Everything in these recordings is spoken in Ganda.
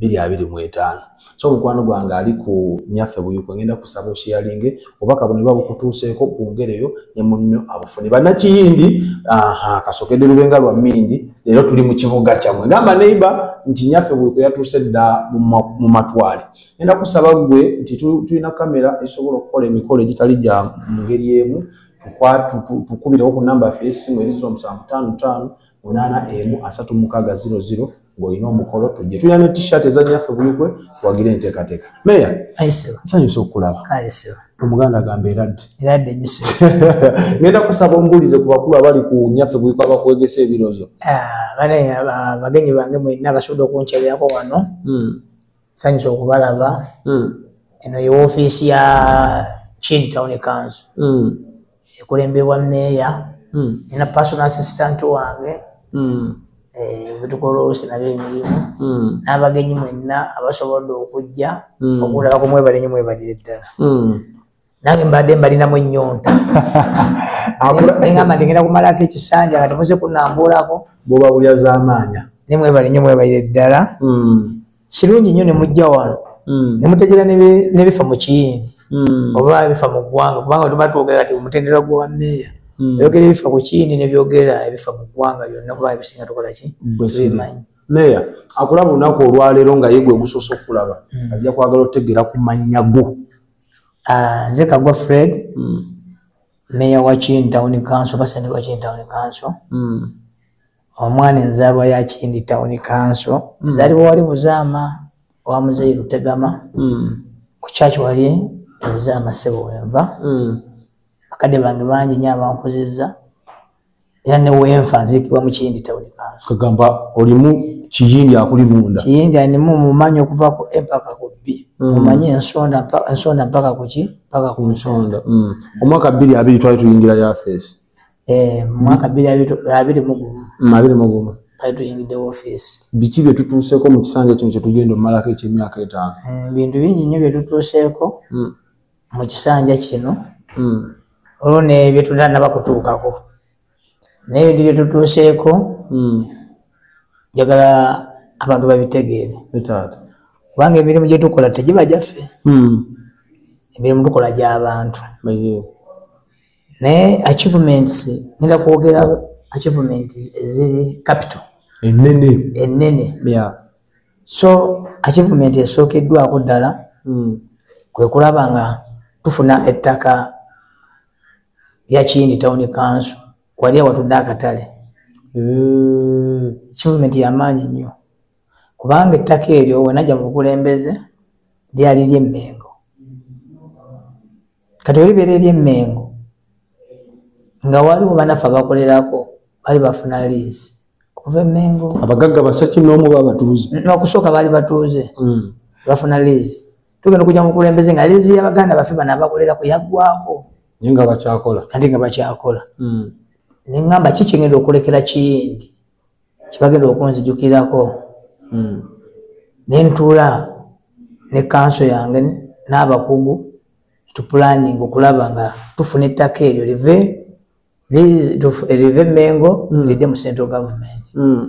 biri abiri mu etaano so mukwano gwange ali ku nyaffe buyuko ngenda kusaba oshiyalinge obaka buno buba bukutuuseeko bwongereyo ne munno abufune bannakiyindi aha kasokede lubenga lwa mindi leero tuli mu kibuga kyamwe gamba neiba nti nyaffe buyuko yatuuse dda mu matwale ngenda kusaba gwe nti tulina kamera esobola okukola emikolo egitali gya mu ngeri emu tukubirawo ku namba yaffe yesimu erizira omusanvu taano taano munaana emu asatu mukaaga ziro ziro ng'olina omukolo tujje tulina ne t-shirt ezanyaffe buyigwe tuwagire enteekateeka meya nsanyusa okukulaba omuganda agamba eradde eradde nyiso ngenda kusaba ombuulize ku bakulu abali ku nyaffe buyiko abakwegesa ebirozo ah, bane ah, bagenyi bange mwenna basobodde okunkyalirako wano hmm. sanyusa okubalaba hmm. eno ye ofiisi ya kindi town council hmm. ekulembebwa meeya hmm. ena personal assistant wange bwetukola olusi nabo emirimu n'abagenyi mwenna abasobodde okujja okulaba kumwebalenyo mwebalire ddala nange mbadde mbalinamu ennyonta neŋamba ndigenda kumalako ekisanja nga temuze kunambuulako bwobawulira zamaanya naye mwebale nnyo mwebaire ddala hmm. kirungi nnyo ne mujja wano hmm. ne mutegeera nebifa mu kiyini hmm. oba bifa mu ggwanga kubanga tuba twogera kati omutendera gwa meeya oyogera ebifa ku kiyini nebyogera ebifa mu ggwanga byonna kuba ebisinga tukola ki bimanyi meeya akulaba olunaku olwaleero nga yegwe ogusoose okulaba ajja kwagala otegeera ku mannya go Ah, nze kagwa fred mm. meya wa kindi town council basente wa kindi town council mm. omwana enzalwa ya kindi town council mm. zali wali buzama wa muzeyi lutegama mm. ku church wali buzama sebo wenva mm. akade bangi bangi nyabankuziza era newenfa nzikibwa mukiyindi tawuni kanso kagamba olimu kiyindi akuli munda kiyindi animu mumanyi okuva ku empaka ku bbi mm. mumanyi ensonda ensonda mpaka kuki mpaka ku nsonda mm. omwaka bbiri abiri twali tuyingira yafeesi eh, mwaka bbiri abiri mugumu mm, abiri mugumu twali tuyingidde wofeesi biki bye tutuuseeko mu kisanja kino kyetugenda omumalako ekyemyaka etaano bintu bingi nnyo bye tutuuseeko mu kisanja kino hmm. olwo nebyo tutanaba kutuukako naye bintu byetutuuseeko hmm. njagala abantu babitegeere kubanga emirimu gyetukola tegiba gyaffe hmm. emirimu tukola gyabantu naye achievements nina kwogera achievements eziri capital enene enene yeah. so achievement esookeddwako ddala mm. kwe kulaba nga tufuna ettaka lya kiyindi tawuni kanso wali awatudde akatale eh. kivumenti yamaanyi nnyo kubanga ettaka eryo wenajja mu bukulembeze lyali lyemmengo kati olibera eri emengo nga waliwo banafe abakolerako bali bafuna liisi kuva emengo abagagga basaki nomu babatuuze nokusooka baali batuuze hmm. bafuna liisi tugenda okuja mukulembeze nga liisi yabaganda bafe bana abakolerako yaggwako naye nga bakyakola ati nga bakyakola hmm. nengamba kikyengenda okulekera kiyindi kibagenda okunzijukirako hmm. nentuula ne kanso yange n'abakugu tupulaninga okulaba nga tufuna ettaka eryo live live mengo hmm. lidde mu central government hmm.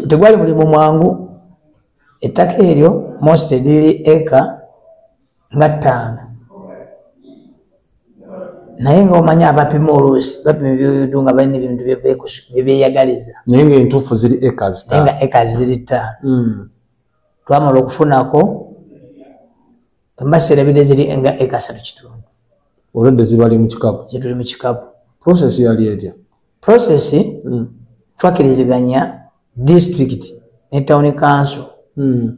tegwali mulimu mwangu ettaka eryo most liri eka nga ttaano naye nga omanyi abapima oluusi bapima ebyoyodo nga balina ebintu byebyeyagaliza naye nga entuufu ziri ekas naye nga ekas ziri ttaano hmm. twamala okufunako embaseerabide ziri nga ekasatu kitundu olwedde zibali mu kikapu zituli mu kikapu process yali etya process hmm. twakiriziganya district ne town council hmm.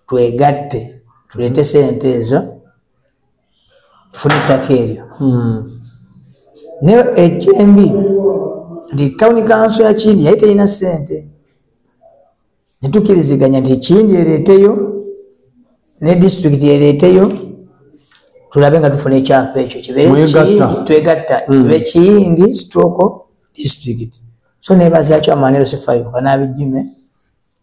twegatte tuleete sente ezo tufune ettaka eryo hmm. naye ekyembi nti tawuni kanso ya kindi yali terina sente netukiriziganya nti kindi ereeteyo ne disitulikiti ereeteyo tulabe nga tufuna ekyapa ekyo kibetwegatta hmm. kibe kiyindi stroke district so nebazakyo amanero sifayuka nabijime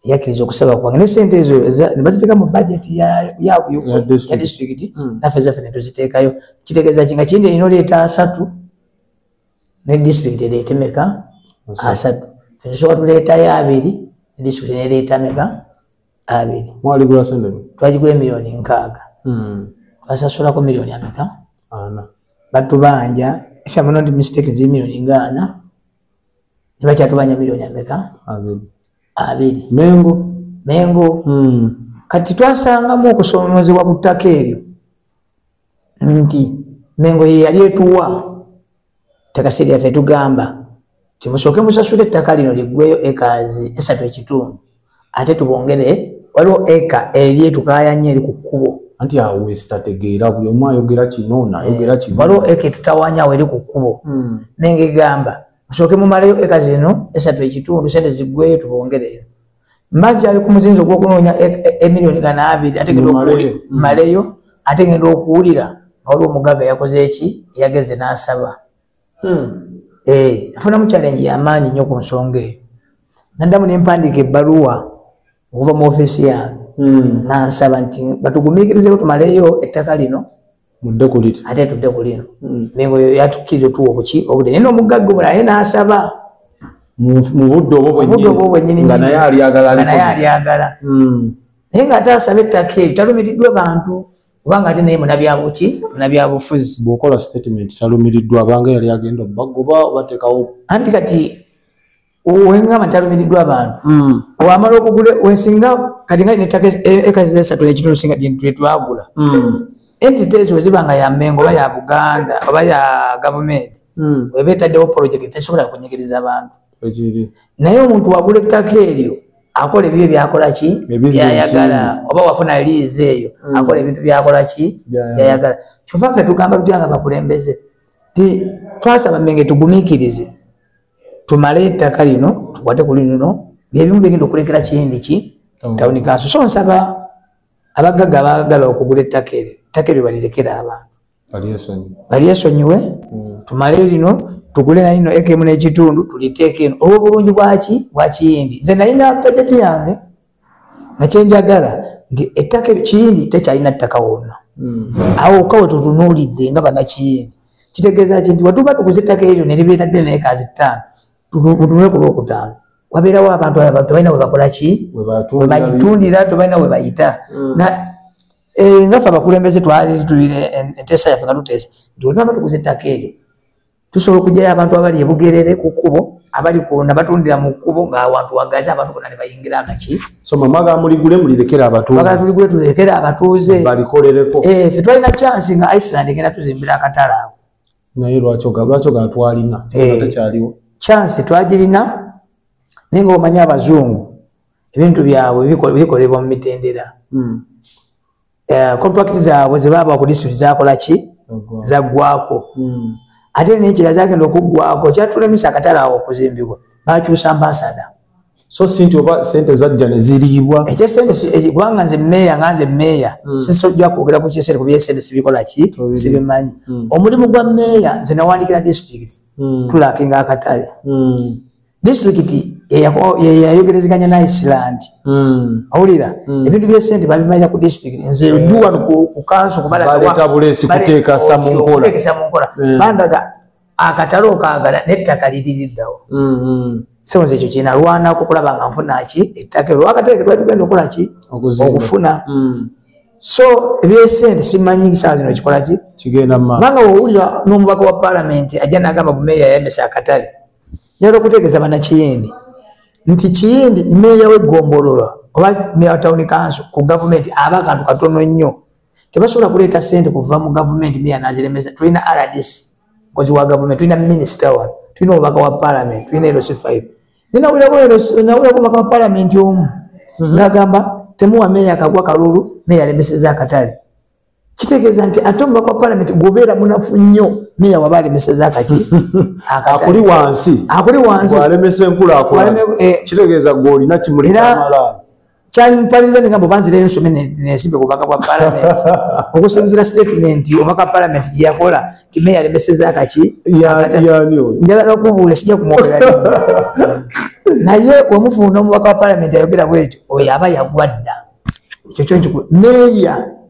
yakiriza okusaba kwange ne sente ezo nebaziteeka mu bajeti ya disitulikiti hmm. naffe zaffe netuziteekayo kitegeeza ki nga kindi erina oleeta asatu ne disitulikiti ereete meka asatu fetusoka tuleetayo abiri ne disitulikiti nereeta meka abiri twagigula emiliyoni nkaaga hmm. twasasulako miliyoni ameka batubanja if am not mistaken zi miliyoni nga ana nebakyatubanja milioni ameka abiri mengo mengo hmm. kati twasangamu okusomozebwa ku ttaka eryo nti mengo yeyali etuwa takasiryafe tugamba timusooke musasula ettaka lino liggweyo ekaazi esatu ekitundu ate tubongere waliwo eka eri etukayanya eri ku kkubo anti awo wesitategeera buli omu ayogera kino nayogera kino waliwo eka etutawanya awo eri ku kkubo hmm. nengegamba musooke mumalayo eka zino esatu ekitundu sente ziggweyo tubongereyo mbaji ali ku muzinzi ogwokunoonya e, e, emiliyoni gana abiri ategeeamaleyo hmm. ate genda okuwulira waliwo omugaga yakoze eki yageze n'asaba hmm. eh, afunamu challenge yamaanyi nnyo ku nsonga eyo naddamu nempandiika ebbaluwa okuva mu ofisi yange hmm. nansaba nti batugumiikirizeko tumaleyo ettaka lino ate tudde ku lino hmm. mengo yo yatukkiriza otuwa obuki obudde naye noomugagga omula naye nansaba mubudde obwo bwenyininaye naye alyagala hmm. naye nga ate asaba ettaka eri talumiriddwa bantu kubanga ate naye munabyabuki munabyabufuzi bwokola statement talumiriddwa abanga yali agenda obagoba obatekawo anti kati wengamba talumiriddwa abantu hmm. wamala okugula wesinga kati nga netaka ekazizesatu e, nekitundu singa twetwagula hmm. entities weziba nga ya mengo oba ya buganda oba ya gavumenti hmm. weba etaddewo project tesobola kunyigiriza abantu naye omuntu wagula ettaka eryo akola ebibyo byakola ki byayagala oba wafuna liizi eyo mm. akola ebintu byakola ki byayagala kyova ffe tugamba tutya nga bakulembeze ti twasaba menge tugumikirize tumale ettaka lino tukwate ku lino byebimu bigenda okulekera kiyindi ki tawuni kanso so nsaba abaggaga baagala okugula ettaka eryo ettaka eryo balirekera abantu balyesonyiwe mm. tumale lino tugule nalino ekemu nekitundu tuliteeke eno olwobulungi bwaki bwakiyindi nze nalina tajeti yange nakyenjagala nti ettaka kiyindi tekyalina ttaka wonna mm. awo kawe tutunuulidde nga banakiyindi kitegeeza ki nti watuba tuguza ettaka eryo neribeera ddene ekazi ttaano tutunule ku lwokutaano wabeerawo abantu tebalina webakola ki webayitundira tebalina webayita hmm. eh, ngafe abakulembeze twalitulira enteesa yaffe nga tuteesa nti olunaba tuguza ettaka eryo tusobola okujayo abantu abali ebugerere ku kkubo abali kuna batundira mu kkubo ngaawantu wagazi abantu bona nebayingira akaki tuligule tulekere abatuuze eh, fe twalina chansi nga iceland egenda tuzimbira akatala awo naye lwaki lwaki ogana twalina eh, tekyaliwo chansi twagirina naye nga omanya abazungu ebintu byabwe bikolebwa mu mitendera hmm. eh, contract zaabwe zebaaba ku disitulikiti zakola ki zaggwako hmm. ate nekira zagenda okuggwako kyatulemesa akatale awo okuzimbibwa bakyusa ambasada so sinti oba sente zajja ne ziriibwa ekye sente eh, kubanga nze meeya nga nze meeya mm. sisojja kwogera ku kyesente kuba esente sibikola ki sibimanyi mm. omulimu gwa meeya nze nawandikira disitulikiti mm. tulaka nga akatale mm. disitulikiti yeyayogerezeganya na iceland mm. owulira mm. ebintu byesente babimalira ku disitulikiti nze yeah. duwa ku kanso kubalagawaetabulesi kuteekesa mu nkola bandaga akatale okaagala nettaka liririddawo mm-hmm. sebo nze ekyo kyenalwanako okulaba nga nfuna ki ettaka ero akatale ketwali tugenda okola ki okufuna mm. so ebyesente simanyi saa zino kikola ki kubanga wowulira n'omubaka wa palamenti ajja nagamba bumeeya yayambisa akatale nyala okutegeeza banakiyindi nti kiyindi meeya weggombolola oba meeya wa tawuni kanso ku gavumenti aba akantu katono nnyo tebasobola kuleeta sente kuva mu gavumenti meya naziremesa tulina rdc mukozi wa gavumenti tulina minisita wano tulina obubaka wa palamenti tulina erosi five ninawulirako obubaka wa palamenti omu mhm. ngagamba temuwa meya kagwa kalulu meya alemeseza akatale kitegeeza nti ate omubaka wa palamenti gwobeera munafu nnyo meya waba alemeseza akaki akuli wansi akuli wansi alemesa enkulakulakitegeeza eh, gweolina kimuliamala kyampaliza ninga mbu banzirayo nsome nensimbe bubaka bwa palamenti okusinzira sitatimenti omaka palamenti gyeyakola kime yalemeseza kaki njala nokubuula sijja kumwogera naye wamufuuna omubaka wa palamenti ayogera bwekyo oyo aba yagwadda ekyo kyo nkiku meeya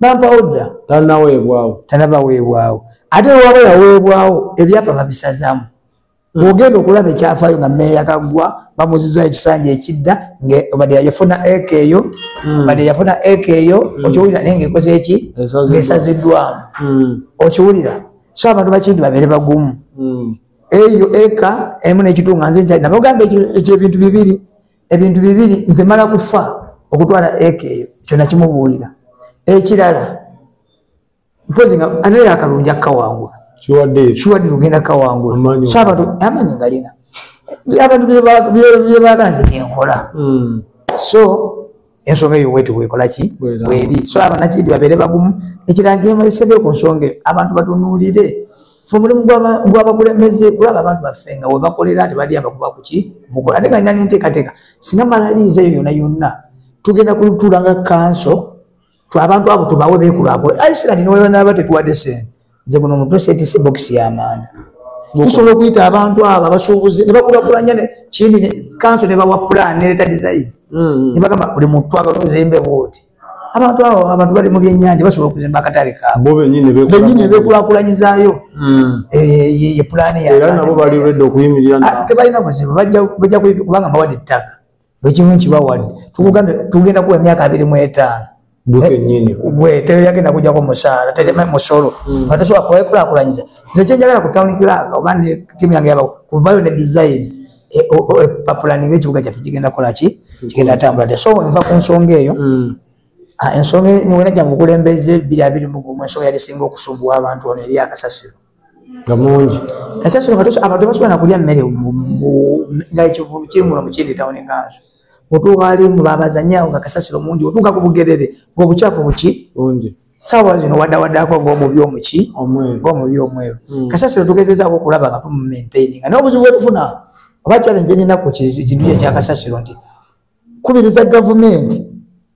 bampawo dda tanaweebwawo tanabaweebwawo ate waba yaweebwawo ebyapa babisazaamu hmm. ogenda okulaba ekyafaayo nga meeya kaggwa bamuziza ekisanja ekidda bade yafuna eka eyo hmm. bade yafuna eka eyo hmm. okiwulira naye ngaekoze eki ngaesaziddwamu okiwulira so abantu bakindi babeere bagumu eyo eka emu nekitunga nze nkyali nabagamba ekyebintu bibiri ebintu bibiri nze mala kufa okutwala eka eyo kyona kimubuulira ekirala mpozi nga anaye akalungi akawangula kiwadde lugenda kawangula so abantu amanyi ngalina abantu byebagala nze byenkola hmm. so ensonga eyo weti wekola ki weri so abanakindi babeere bagumu ekirala njemesedeyo ku nsonga eyo abantu batunuulire fe omulimu gwabakulembeze kulaba abantu baffe nga webakolera ati bali abakuba kuki mukola ate nga nina nenteekateeka singa malaliiza eyo yona yonna tugenda kulutuula nga kanso twabantu abo tubawe bekulakula aisiraani niwebanaba tetuwadde sente nze guno mutwe setise bokisi y'amanda tusobola okuyita abantu abo abasuubuzi ne bakulakulanya kindi kanso ne bawa pulaani nereeta dizayini mm-hmm. ne bagamba buli muntu twagala ozimbe bwoti abantu abo abantu bali mu byennyanja basobola okuzimba akatale kaabo benyini ne bekulakulanyizaayo mm. eh, ye pulaani yatebalina ah, buzibu bajja kubanga bawadde ettaka bwekimu nkibawadde tugenda kuwa emyaka abiri mu etaano gweteyagenda kujako musaala tereme musolo mm. nga tosobola kwekulakulanyiza nze kyenjagala ku town clerk oba ne timu yange yaba kuvayo ne design e, e, papulani ngaekibuga kyaffe kigenda kolaki mm. kigenda atambula te so nva ku nsonga eyo mm. ah, ensonga niwena jange okulembeza ebiri abiri mugumu ensonga yali singa okusumbuwa abantu ono eri akasasiro nga mungi kasasiro katuso abantu basobola nakulya mmere nga ekivulu kiri muno mukindi tawuni enkanso otuuka ali mu babazanyawo nga kasasiro mungi otuuka ku bugerere ngaobukyafu buki bungi sawa zino wadawadako ngomubi omuki ngomubi omweru hmm. kasasiro tugezezaako okulaba nga tumumaintaini nga nobuzibu bwetufuna oba challenge eninaku kintu kye kyakasasiro nti kubiriza gavumenti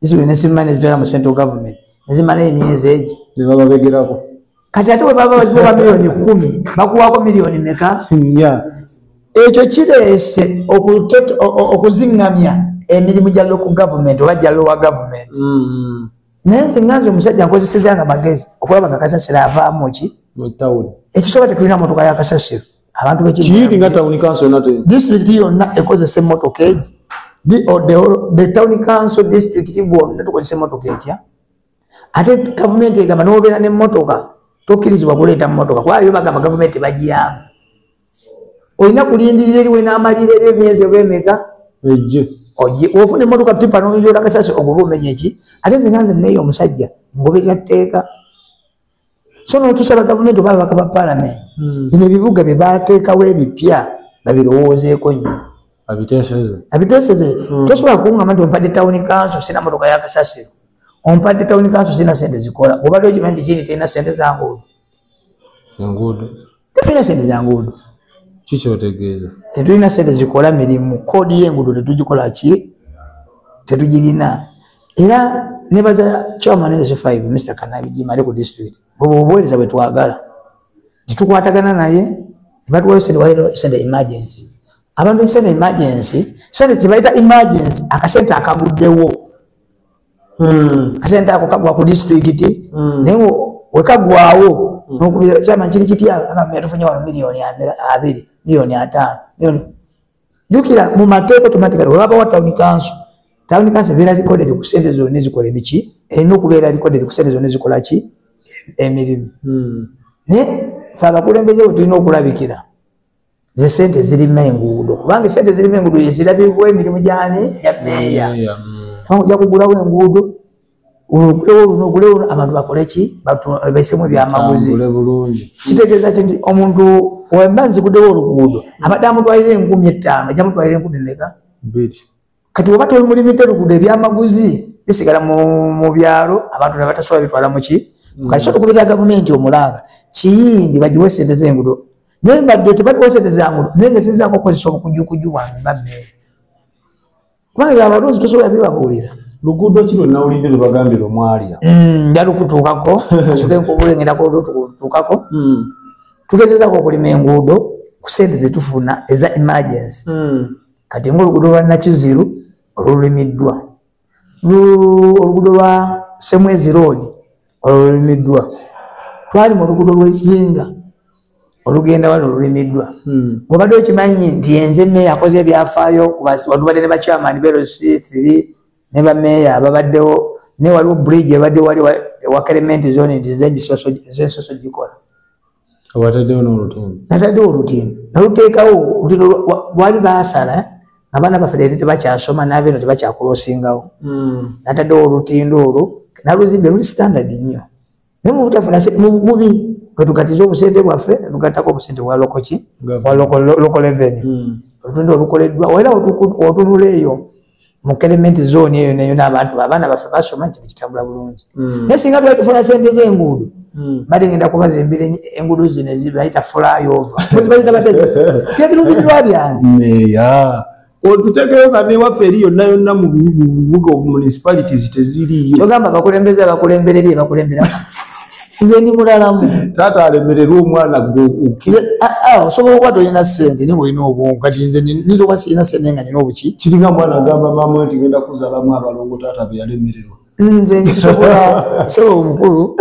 zizuli nesimma nezitwala mu central government nezimala emyezi egi nebababegerako kati ate webaba baziwa miliyoni kumi bakuwako miliyoni meka ekyo kireese okuziŋŋamya emirimu gya loku gavumenti oba gya lowa gavumenti mm-hmm. naye nze nga nze omusajja nkozeseza nga magezi okulaba nga kasasiro avaamu ki ekisobola tetulina motoka ya kasasiro abantu bekiyiti nga town council yonna te district yonna ekozesa emmotoka egi the town council district bwonna tukozesa emmotoka etya ate gavumenti egamba nobeera nemmotoka tokkirizibwa kuleeta mmotoka kuba yo bagamba gavumenti bagiyamba olina kulindirira eriwe n'amalira eri emyezi oba emeka ofuna emmotoka tipa noyola kasasi oguba omenya eki ate nze nanze neeyo omusajja ngoberera tteeka so notusaba gavumenti oba ababaka ba palamenti hmm. bino ebibuga bye bateekawo ebipya babirowoozeeko nnyo abiteseze hmm. tosobola kungamba nti ompadde tawuni kanso sina motoka yakasasiro ompadde tawuni kanso sina sente zikola obadde okimanyi nti kindi terina sente zanguudo tetulina sente za nguudo kikyotegeeza tetulina sente zikola mirimu koodi yenguudo tetugikola ki tetugirina era nebaza kyamanenese 5 mr kanabijimale ku district bwebwe obuweereza bwetwagala tetukwatagana naye nebatuwayo sente wayo sente emergency abantu sente emergency sente kyebayita emergency akasente akaguddewo kasente ako kagwa ku disitulikiti naye wekagwawo nokubira kyama kiri kitya tufunye wano miliyoni abiri miliyoni ataano miliyoni jukira mu mateeka automatically webabawo town council town council ebeera recorded ku sente zonna ezikola emiki erina okubeera recorded ku sente zonna ezikola ki emirimu hmm. naye fe abakulembeze we tulina okulabikira ze sente zirima enguudo kubanga sente zirima enguudo yezirabibwa emirimu gyani gya meeya kubanga ojja kugulawo enguudo olugulewo luno ogulewo abantu bakoleki baisemu ebyamaguzi kitegeeza ki nti omuntu wemba nzigudewo oluguudo abadde amutwalira enkumi ettaano ejja mutwalira enkumi meka kati oba tolimulimidde lugudo ebyamaguzi bisigala mu byalo abantu nebatasobola bitwala muki mm. kati sotukubirira gavumenti omulanga kiyindi bagiwe sente zengudo naye mbadde tebaliwo sente zangudo naye ngesinzako okozesa obukujukuju bwange nga meeya kubanga ebyo abalunzi tosobola bibabuulira luguudo ki lwe nawulidde lwe bagambira omwalya mm, nja lukutuukako asoke nkubulengerako lukutuukako mm. tugezezako okulima enguudo ku sente zetufuna eza emergency kati ngaoluguudo lwa nakiziru olulimiddwa oluguudo lwa semwezi road olulimiddwa twali mu luguudo lwezinga olugenda wano olulimiddwa hmm. obadde okimanyi nti enze meeya akoze ebyafaayo watubadde ne bakyamani beroc three ne bameeya ababaddewo ne waliwo bridge ebadde wali ewakerementi zone nti zegisoso gikola wataddewo n'olutindo nataddewo olutindo naluteekawo olutindo lwali baasala abaana baffe leero tebakyasoma nabeeno tebakyakulosingawo hmm. nataddewo olutindo olwo naluzimbe luli standard nnyo naye mubutafuna mu bugubi kwetukatiza obusente bwaffe netugattako obusente bwa lokoki wa lokoleveni hmm. olutindo olukoleddwa era otunula eyo mu kelement zone eyo nayo n'abantu abaana baffe basoma ekintu kitambula bulungi hmm. naye singa twali tufuna sente z'enguudo hmm. bade ngenda kubazimbira enguudo zino ezibayita flyover muzibazita bade byebirubirirwa byange ozitegeyo nga newaffe eri yonna yonna mu bibuga municipalities teziriyo kyogamba abakulembeze abakulembererie bakulembera nze ndi mulalamu taata alemererwa omwana gweosobola okuba tolina sente naye olina obwongo kati nze niyinza okuba sirina sente nga nina obuki kiringa mwana agamba maama nti genda kuzalamu abalongo taata beyalemererwa nze nkisobola sebo omukulu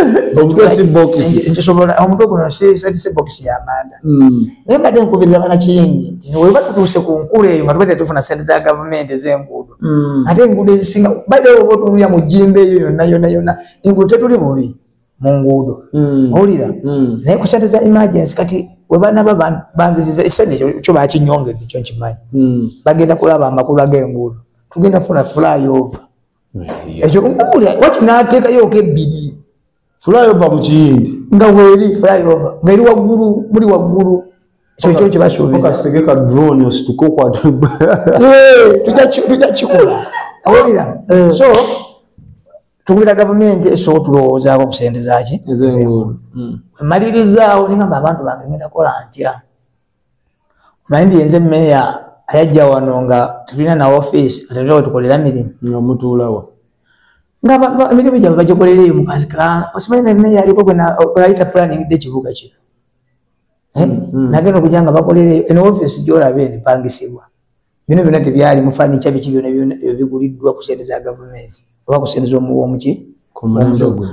nkisobola omutwe guno sise bokisi yamanda hmm. naye mbadde nkubiriza banakiyingi nti weba tutuuse ku nkula eyo nga tubadde tufuna sente za gavumenti ezenguudo hmm. ate enguudo ezisinga baideoba otunulya mu jimba eyo yonna yonna yonna engulu tetuli bubi mu nguudo hmm. owulira hmm. naye ku sente za emergency kati webanaba banziziza esente ekyo kyo bakinyongedde ekyo nkimanyi hmm. bagenda kulaba amakulu ag'enguudo tugenda funa flyover ekyo owulira waki nateekayooko ebbiri flyover mu kiyindi nga weeri flyover nga eri waggulu muli waggulu kyekyo kyebasuubizasegeka drone osituka okwata tujakikola owulira so tugulira gavumenti esooka tulowoozaako okusendezaki hmm. malirizawo nigamba abantu bange ngenda kola ntya omanyi nti yenze meeya ayajja wano nga tulina na ofiisi nga tetulina wetukolera mirimu nga mutuulawa nga emirimu gyabwe bagikolera eyo mukazi ka osimanyi ne meeya aliko gwenayita planning de kibuga kino eh? hmm, hmm. nagenda okujja nga bakolera eyo eno ofiisi gyolaba eno epangisibwa bino byona tebyali mufanica biki byona biguliddwa ku sente za gavumenti oba ku sente zomuwomuki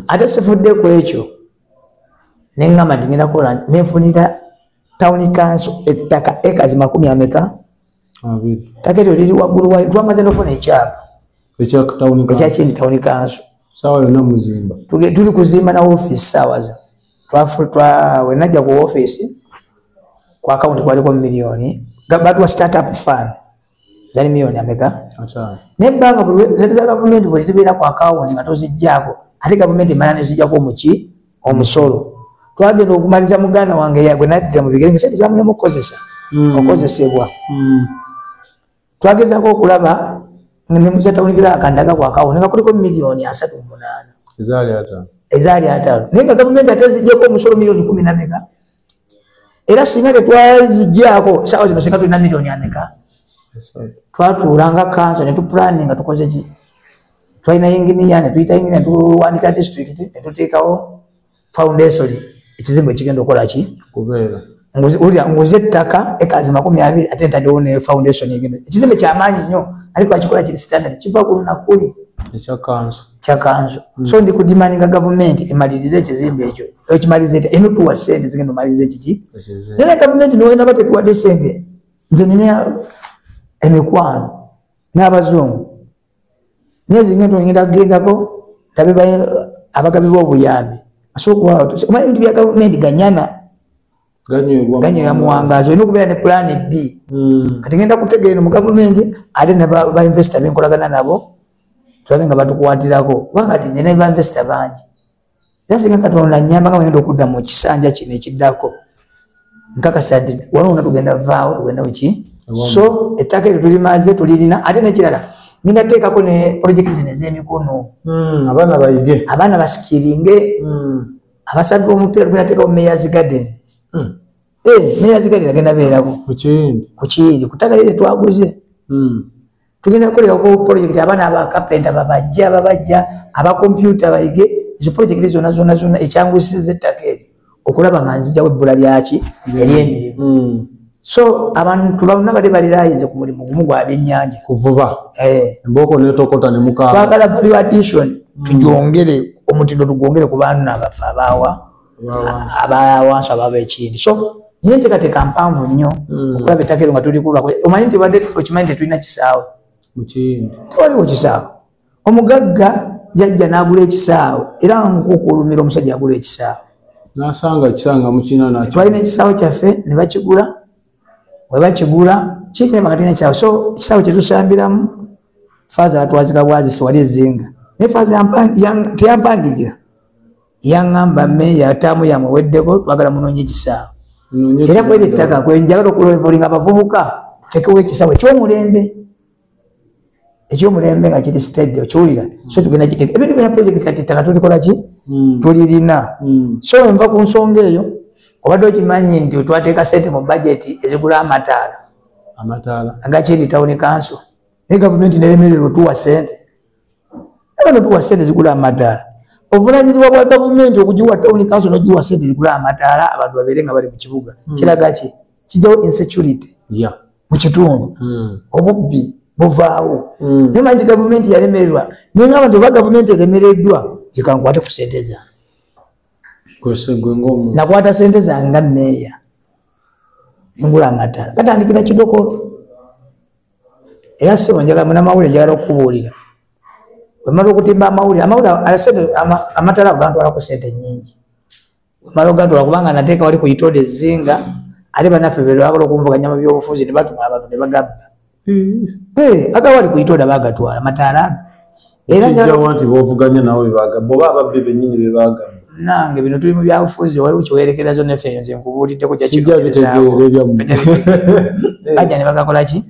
ate sifudde ku ekyo nengamba nti ngenda kola nenfunira tawuni kanso ettaka ekazi makumi ameka taka eryo liri waggulu wali twamaze nofuna ekyapa ekyakindi tawuni kanso tuli kuzimba na ofiisi saawa zino wenajja ku office ku akawunti kwaliko miliyoni batuwa startup fund zali miliyoni ameka naye ebbanga zali za gavumenti bwe zibeera ku akawunti nga tozijjaako ate gavumenti emala nezijjako omuki omusolo twagenda okumaliza muganda wange yagwe najja mu bigere ngesente zamulemu okukozesa hmm. okozesebwa hmm. twagezako okulaba nemusatawunikira akandaga kwakawo nga kuliko miliyoni asatu munaana ezaali ataano naye nga gavumenti ate zijjeko omusolo miliyoni kumi nameka era singa tetwazijjako saawa zino singa tulina miliyoni ameka twatuula nga kanso netupulani nga tukoze ki twalina yinginiya netuyita yinginiya netuwandika disitulikiti netuteekawo foundation ekizimbo ekigenda okukola ki kubeera ulira nguze ettaka ekazi makumi abiri ate ntadewo ne foundation egenda ekizimbe kyamaanyi nnyo ariko akikola kiri standard kiva ku lunakuli kyakanso mm. so ndi kudimaninga gavumenti emalirize ekizimbe ekyo ekimaliriza etya eno tuwa sente zigenda omaliriza ekiki nene gavumenti niwena ba tetuwadde sente nze nina emikwano n'abazungu nyezi ngendo ngenda gendako ndabe baye abagabi bo buyambi aso kwa to ma ndi bya government ganyana ganyo wa ganyo ya muangazo ino kubera ne plan B mm. kati ngenda kutege ino mu government ade ne ba, ba investor benkola gana nabo tulabe nga batu kwatirako wakati nyene ba investor banji era singa katonda nyamba nga wenda okudda mu kisanja kino ekiddako nkakasa nti walona tugenda vaawo tugenda muki so ettaka eryo tulimaze tulirina ate nekirala ngenda teekako ne projekiti zino ez'emikono hmm, abaana bayige abaana basikiringe hmm. abasadde omupiira tugenda teekako mayors garden hmm. eh, mayors garden agenda beerako ku kiyindi ku ttaka lyo lyetwaguze tugenda kukolera ku polojekiti abaana bakapenta babajje ababajja abakompyuta bayige ezo polojekiti zona zona zona ekyangusiza ettaka eryo okulaba nga nzijawo ebbula lyaki mm. eryemirimu mm. so abantu baluna bali balirayize ku mulimu gumu gwa byennyanja kuvuba eh. embooko netokota nemukaa twagala value addition mm. tujongere omutindo tugwongere ku baana abafe abaawa abawansi ababa ekindi so naye enteekateeka mpanvu nnyo hmm. okulaba ettaka ero nga tulikulwa omanyi nti badde okimanyi nti tulina kisaawe tewaliwo kisaawe omugagga yajja n'agula ekisaawe era nkukuulumira omusajja agula ekisaawe nasanga ekisanga mukina nakyo twalina ekisaawe kyaffe ne bakigula we bakigula kikine makati nekisaawe so ekisaawe kyetusambiramu faaza batwazika bwazisi wali ezinga naye faaza teyampandiikira yaŋamba meeya ataamu yamuweddeko twagala munoonye ekisaawe era kweri ettaka kwenjagala okulovolinga abavubuka tutekewo ekisaawe ekyomulembe ekyomulembe nga kiri stade okiwulira so tugenda kiteka ebintu byona project kati ettaka tulikola ki hmm. tulirina hmm. so enva ku nsonga eyo obadde okimanyi nti twateeka sente mu bajeti ezigula amataala amataala agakiri tawuni kanso naye gavumenti neremererwa otuwa sente aba notuwa sente zigula amadaala obuvunanyizibwa bwa gavumenti okugiwa tawuni kanso nogiwa sente zigula amadaala abantu babeere nga bali mu kibuga hmm. kiraga ki kijjawo insecurity mu kitundu hmm. obubbi buvaawo hmm. naye manyi gavumenti yalemererwa naye nga abantu oba gavumenti eremereddwa zikankwate ku sente zange nakwata sente zange nga meeya engula amadaala katandikira kidokolo era sebo njagala munamawulire njagala okukubuulira wemala okutimba amawulire amawulire amatala agantwalaku sente nyingi wemala ogantwala kubanga nateeka wali kuyitode ezinga ate banaffe bebagala okunvuganya mu byobufuzi nebatuma abantu nebagabba hmm. eh, aga wali kuyitode bagatwala mataala aga erakijjawa nti bovuganya nawe bebagamba oba ababbi benyini bebagamba nange bino tuli mu byabufuzi waliwo kyewerekera zona efe nze nkubuuliddeko jakibaja ne bagakola ki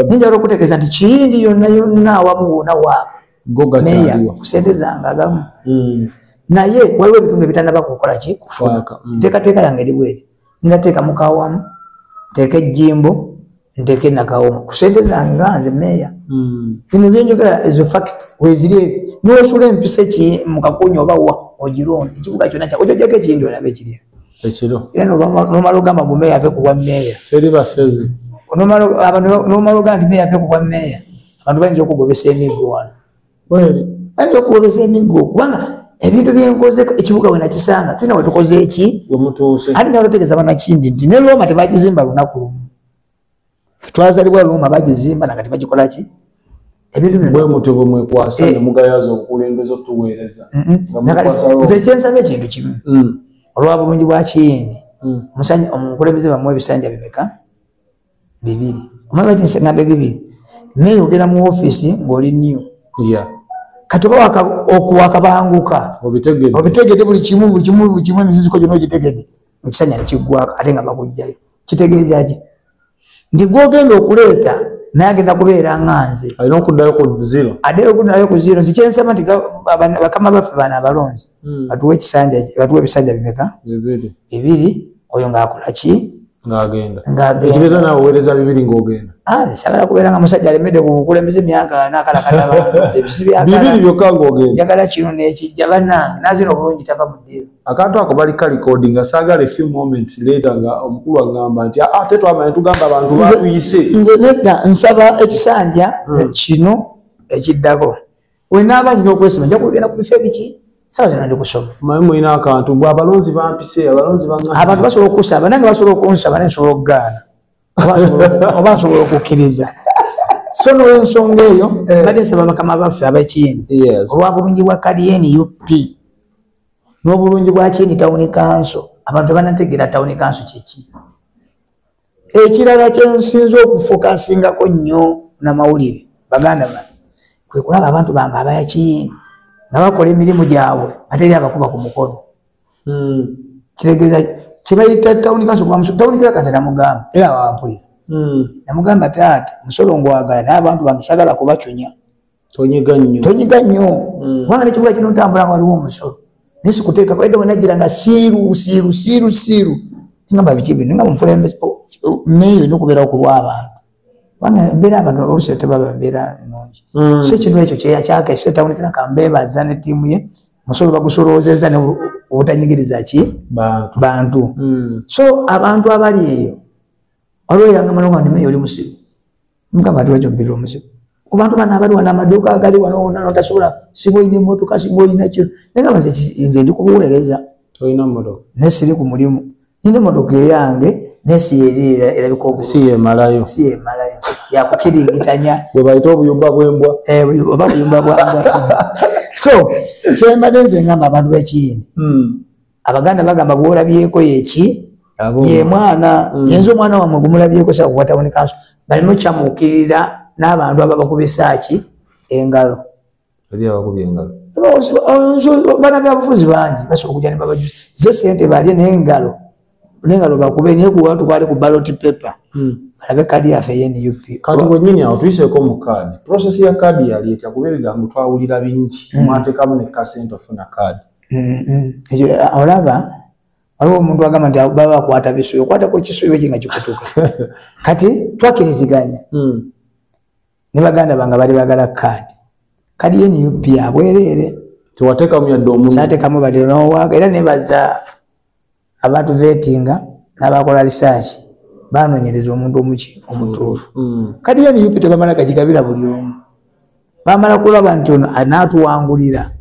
ninjala okutegeeza nti kiyindi yonna yonna awamu wona waabwe meya kusente zange agamu hmm. naye waliwo ebitundu ebitanaba kukola ki kufuuka hmm. nteekateeka yange eri bweri nina teka mukawamu teke jimbo nteke nakawomo kusente zange nze meya mm. bino byenjogera as a fact wezire nosula empisa ki mukakunya oba wa ogiron ekibuga kyona kya ojojako ekindi olabe kiri ekiro era nomala ogamba mu meya ave kubwa meya teri basezi nomala ogamba nti meya ave kubwa meya abantu bayinza okugobesa emiggo wano ayinza okuwoleza emiggo kubanga ebintu byenkoze ekibuga we nakisanga tulina wetukoze eki ati nga lotegeeza banakindi nti ne looma tebagizimba lunaku lumu twazalibwa looma bagizimba nagati bagikola ki nze kyensaba ekintu kimu mm. olwa bulungi bwa kiyini mm. omukulembeze bamu ebisanja bimeka bibiri omala lwaki nsengambe bibiri naye ogenda mu ofiisi ng'oli new kati oba okuwakabanguka obitegede buli kimu buli kimu buli kimu emiziziko gyona ogitegede ekisanya nekiggwako ate nga bakugjayo kitegeeza ki nti gwogenda okuleeta naye agenda kubeera nga nze addeyo okuddayo ku ziro nti kyensema nti bakama baffe baana abalonzi hmm. batuwa ekisanja batuwa ebisanja bimeka bibiri oyo ngaakola ki sagala ah, kubeera nga musajja alemedde ku bukulembeze emyaka nakalakalaebisibyakaaagala kino nekijja banange nazina obulungi tava mu ddiiro akantu ako bali kalikodi nga sagala efew moments leeta nga omukulu agamba nti ate ah, twamanya tugamba abantu batuyise nze nedda nsaba ekisanja hmm. kino ekiddako wenaaba nina okwesoma nja kugenda ku bifo ebiki sawa zona ndi kusoma maye mulina akantu gwe abalonzi bampise abalonzi abantu basobola okusaba nange basobola okunsaba naye nsobola okugaana oba nsobola okukkiriza so nolwensonga eyo eh. badde nsaba bakama baffe abakiyini olwabulungi bwa kaliyeni up n'obulungi bwa kiyini tawuni kanso abantu banategeera tawuni kanso kyeki ekirala kyensinza okufokasingako nnyo namawulire baganda ba kwekulaba abantu bange abayakiyingi nga bakola emirimu gyabwe ate eri abakuba ku mukono hmm. kitegeza kibayita tawuni kanso kuba musolo tawuni kira kanso namugamba era wampulira hmm. namugamba taata musolo ngwagala naye abantu bange sagala kubacunya tonyiga nnyo tonyiga nnyo mm. kubanga nekibuga kino ntambula nga waliwo omusolo naye sikuteekako edda wenajira nga siiru siiru siiru siiru ngamba biki bino nga mukulembeze meeyo olina okubeerawo ku lw'abantu kubanga embeera abantu olusi tebaba mbeera nungi mm. so ekintu ekyo kyeyakyaka esetawunikira ka mbeebaza ne ttiimu ye musolo bagusolowoozezza ne obutanyigiriza ki bantu mm. so abantu abali eyo waliwo yanga malonga ni meeyo oli musiru mukama tulajo mubiri omuzibu kubantu bano abali wano amaduuka agali wano wona notasobola siba olina emotoka siba olina kino naye nga baze nze ndi kubuweereza naye siri ku mulimu nina emotoka eyange naye siyeerera erabika obusiyemalayo siyemalayo yakukiringitanya bwebayita obuyumba bwembwa eh, oba buyumba bwambwa so kyembadde nze ngamba abantu bekiyindi hmm. abaganda bagamba gwolabyeko yeki yemwana mm. yenza omwana wamwe gumulabyeko sakukwatabonekanso balina okyamukirira n'abantu aba bakubisaaki engalo bana byabufuzi bangi basobola okuja nebabajuzi ze sente balye nengalo nengalo bakube naye kuwa tukwali ku baloti paper hmm. balabe kadi yafe eyenup kati wenyini awo tuyiseko mu kadi process ya kadi yali etya kuba ebigambo twawulira bingi hmm. mwatekamu nekasente ofuna kadi mm-hmm. olaba waliwo omuntu agamba nti baba bakwata bisubi okwatako kisubi ki nga kikutuka kati twakiriziganya mm. ne baganda bange bali bagala kaadi kadi ye nup abwereere tewatekamu yadde omusaatekamu baliro nowaga era nebaza abantu vetinga nabakola risaaki banonyereza omuntu omuki omutuufu mm, mm. kadi ya nup tebamala gagigabira buli omu bamala kulaba nti ono anaatuwangulira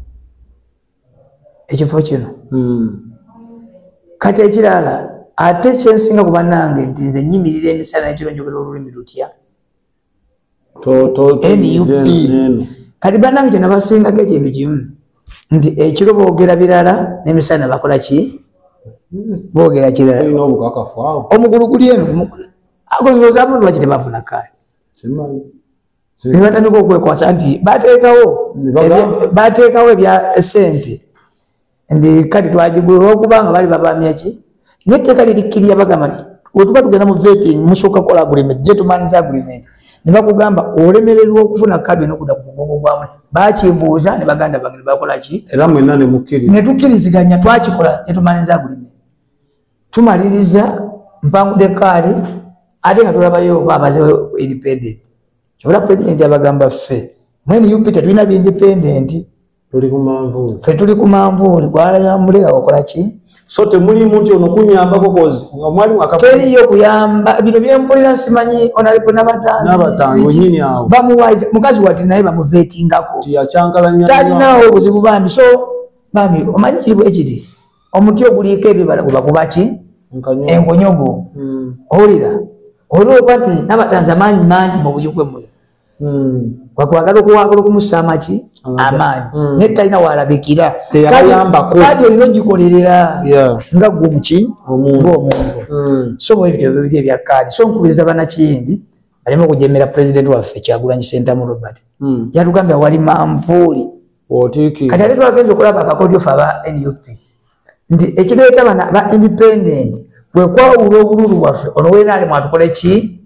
ekifo kino mm. kati ekirala ate kyensinga kubanange nti nze nyimirira emisana nekiro njogera olulimi lutya nup kati banange kyona basingaga ekintu kimu nti ekiro bogera birala nemisana bakola ki bogera kirala omugulu guli eno agozozamunwaki tebafuna kani nebatandika okwekwasa nti batekawo batekawo ebya sente ndi kati twagigula olwokuba nga bali babamya ki netteeka lirikkirira bagamba wetuba tugenda mu vetting musooka kukola agreement gentlemans agreement ne bakugamba olemererwa okufuna kadi enokuda ku mugongo gwamu bakimbuuza ne baganda bange nebakola ki era mwena nemukkiriza netukkiriziganya twakikola gentlemans agreement tumaliriza mpangude kaali ate nga tulabayo oba abaze independent kyobola president abagamba ffe mwene upita tulina bindependenti tuli ku manvuuli fe tuli ku manvuuli gwalayambulira okola ki so temuli muntu ono kunyambako kozi nga mwali mwaka teriyo kuyamba bino byempulira simanyi onalipo nabatanzi nabatanzi onyini awo bamuwaiza mukazi wati naye bamuvetingako tiyakyankalanya talinawo obuzibu bambi so bambi omanyi kiribu ekiti omuti oguliiko ebibala guba kubaki enkonyogo hmm. owulira olwoba nti nabatanzi amaanyi mangi mu buyugwe muno kwakwagala hmm. okuwagala okumusa amaki amaanyi hmm. naye talina walabikira kadi olina ogikolerera nga gwe omuki ngaomuntu hmm. so bwebitebyo ebya kadi so nkubiriza banakiyindi aleme okujemera pulezidenti waffe kyagulanyi sentamu robert yatugambye awali manvuuli kati ate twagenza okulaba akakodyo fe aba nup nti ekireeta bana ba independent kwekwawula obululu bwaffe ono wena ali mwatukola ki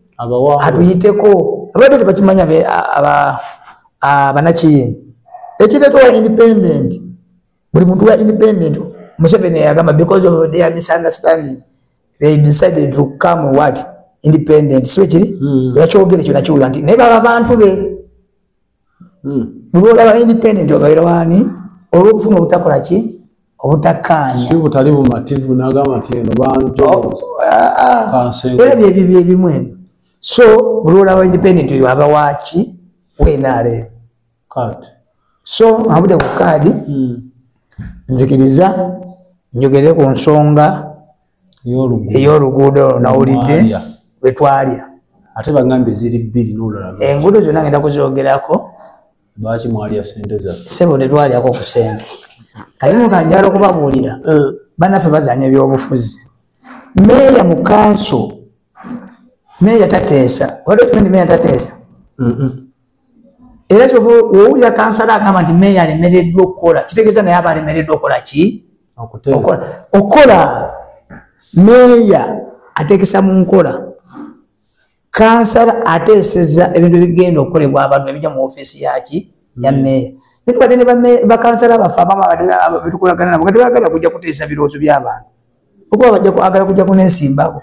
atuyiteko abadde tebakimanya banakiyini ekireeta owa independent buli muntu wa independent museveni yagamba because of their misunderstanding they decided to come what independent siwe kiri hmm. yakyogere kyonakiwula nti naye baba bantu be hmm. bwolaba independent obeera wani olwokufuna obutakola ki obutakkaanya butali bumativu nagamba nti eno banjoera byebyo byebimu ebyo so bwolaba independent oyo aba waki wenare so abude ku kaadi hmm. nzikiriza njogere ku nsonga ey'oluguudo olwo nawulidde lwe twalya ate bagambye ziri bbiri n'olulala enguudo zonna ngenda kuzoogerako lwaki mwalya sente zaffe sebo tetwalyako ku sente kati no kanjala okubabuulira eh. banaffe bazanya ebyobufuzi meeya mu kanso meeya tateesa waliokimenti meeya tateesa era kyova owulira kansala agamba nti meeya alemereddwa okukola kitegeeza naye aba alemereddwa okukola ki okola meeya ateekesa mu nkola kansala ateeseza ebintu ebigenda okukolebwa abantu ebija mu ofeesi yaki ya hmm. meeya netubadde ne bakansala baffe abamabetukolagana nabo nga tebagala kujja kuteesa birowoozo by'abantu okuba bajja kwagala kujja kunesimbako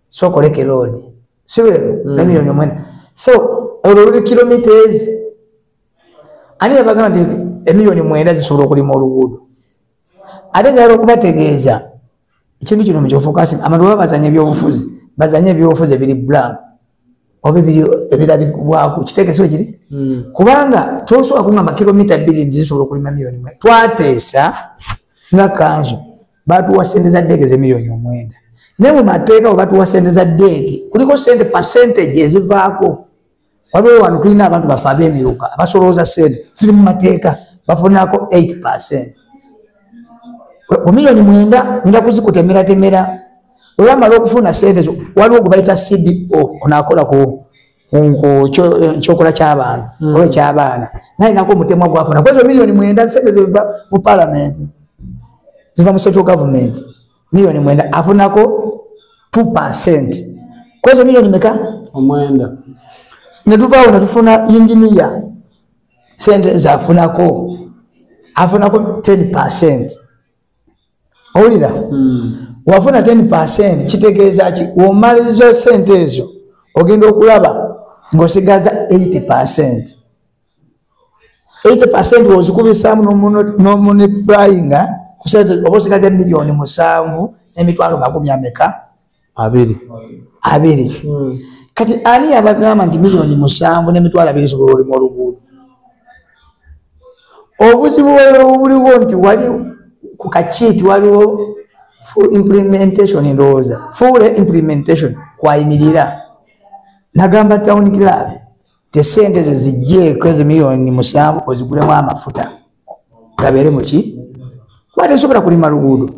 so okoleke road sibero mm. na milioni omwenda so olwo luli kilometres ani yabagamba nti emilioni mwenda zisobola okulima oluguudo ate njagala okubategeeza ekintu kino mukyofokasi abantu baba bazanya ebyobufuzi bazanya ebyobufuzi ebiri blank oba ebiri ebirabibwaku kitekesiwe kiri hmm. kubanga tosobola kungamba kilomita bbiri nti zisobola okulima milioni mwe twateesa nga kanzu batuwa sente za deege zemiliyoni omwenda naye mu mateeka webatuwa sente za deege kuliko sente percentage ezivaako waliwo wano tulina abantu bafe abemiruka abasolooza sente ziri mu mateeka bafunako 8 percent ku miliyoni mwenda nina kuzikutemeratemera olwamala okufuna sente zo waliwo gwebayita cdo onakola ku kyokola kyabantu hmm. oba ekyabaana nalinako omutemwa gwafuna kwezo milioni mwenda sente ziva mu palamenti ziva mu central government milioni mwenda afunako two percent kwezo milioni meka omwenda netuvaawo netufuna inginiya sente zafunako afunako ten percent owulira hmm. wafuna 10 percent kitegeeza ki womaliriza sente ezo ogenda okulaba ngaosigaza 80 percent 80 percent wozikubisaamu nomuniplayinga kusente oba osigaza emiliyoni musanvu nemitwalo makumi ameka abiri abiri hmm. kati ani yabagamba nti milioni musanvu nemitwalo abiri zisobola olima oluguudo obuzibu obuliwo nti wali ku kakiiti waliwo full implementation ndowooza full implementation kwayimirira nagamba town club tesente ezo zijjeeko ezo miliyoni musanvu ozigulemu amafuta gabeere muki kuba tesobola kulima luguudo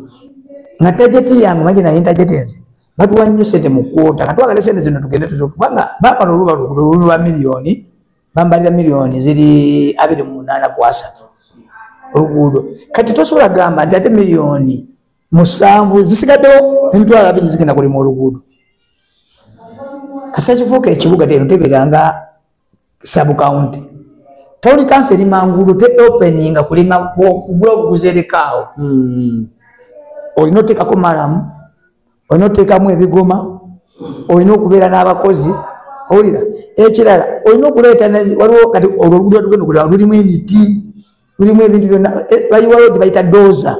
nga tajeti yange maji naye tajeti nze batuwa nnyo sente mu kwota katwagale sente zino tugende tuzokubanga bamala oluba luguudo luli lwa miliyoni bambalira miliyoni ziri abiri mu munaana ku asatu oluguudo kati tosobola gamba nti ate miliyoni musanvu zisigaddewo emitwalo abiri zigenda kulima oluguudo kasita kifuuka ekibuga teno teberanga sabukawunti tawuni kansi eri manguudo te openinga kulima kugula obuguzi erekaawo hmm. olina oteekako malamu olina oteekamu ebigoma olina okubeera n'abakozi owulira ekirala olina okuleeta waliwo kati olwo oluguudo lwatugenda okulira lulimu emiti mulimu ebintu byonna eh, bayiwayo gye bayita doza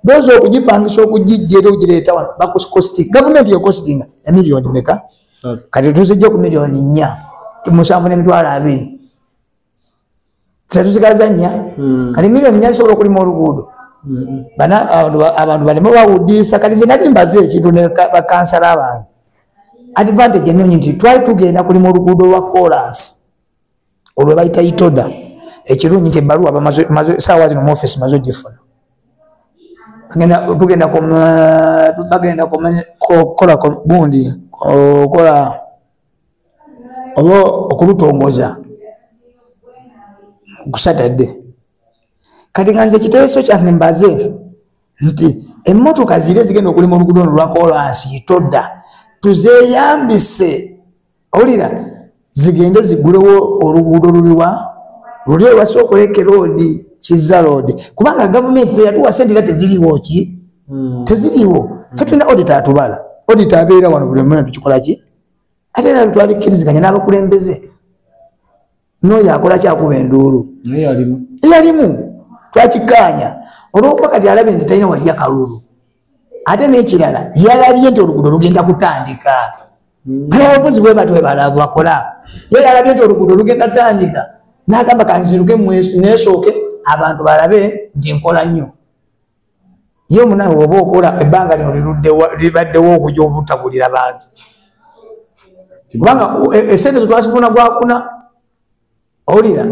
doza okugipangisa okugijja era ogireeta wano bakuskosti gavumenti yekostinga emiliyoni meka kati tuzijja ku miliyoni nnya musanvu n'emitwalo abiri tetusigaza nnya hmm. kati miliyoni nnya zisobola okulima oluguudo hmm. abantu baleme bawudiisa kati ze nali mbaze ekintu ne bakansala abantu advantage ennungi nti twali tugenda kulima oluguudo lwa kolansi olwe bayita itoda ekirungi nti ebaluwa saawa zino muofisi maze ogifuna tugenda bagenda kukola gundi okola oba okulutongoza kusatadde kati nga nze ekiteeso kyange mbaze nti emmotoka zire zigenda okulima olugudo ono lwakolansi toda tuzeyambise owulira zigende zigulewo oluguudo luliwa luli olwasi okuleke loodi kizza loodi kubanga gavumenti teyatuwa sente era teziriwo ki hmm. teziriwo fe tulina odita atubala odita abeera wano buli omuna tukikola ki ate era twabikkiriziganya n'abakulembeze noyo akola kyakuba enduulu eyalimu twakikaanya olwokuba kati alabye nti talina walya kalulu ate nekirala yalabye nti oluguudo lugenda kutandika hmm. ale abavuzi bwebati webala bakola ye yalabye nti oluguudo lugenda tandika nagamba kanziruke nesooke abantu balabe nti nkola nnyo ye munawe oba okola ebbanga lino libaddewo okuja obutabulira bantu kubanga e, esente zetwasifuna gwakuna owulira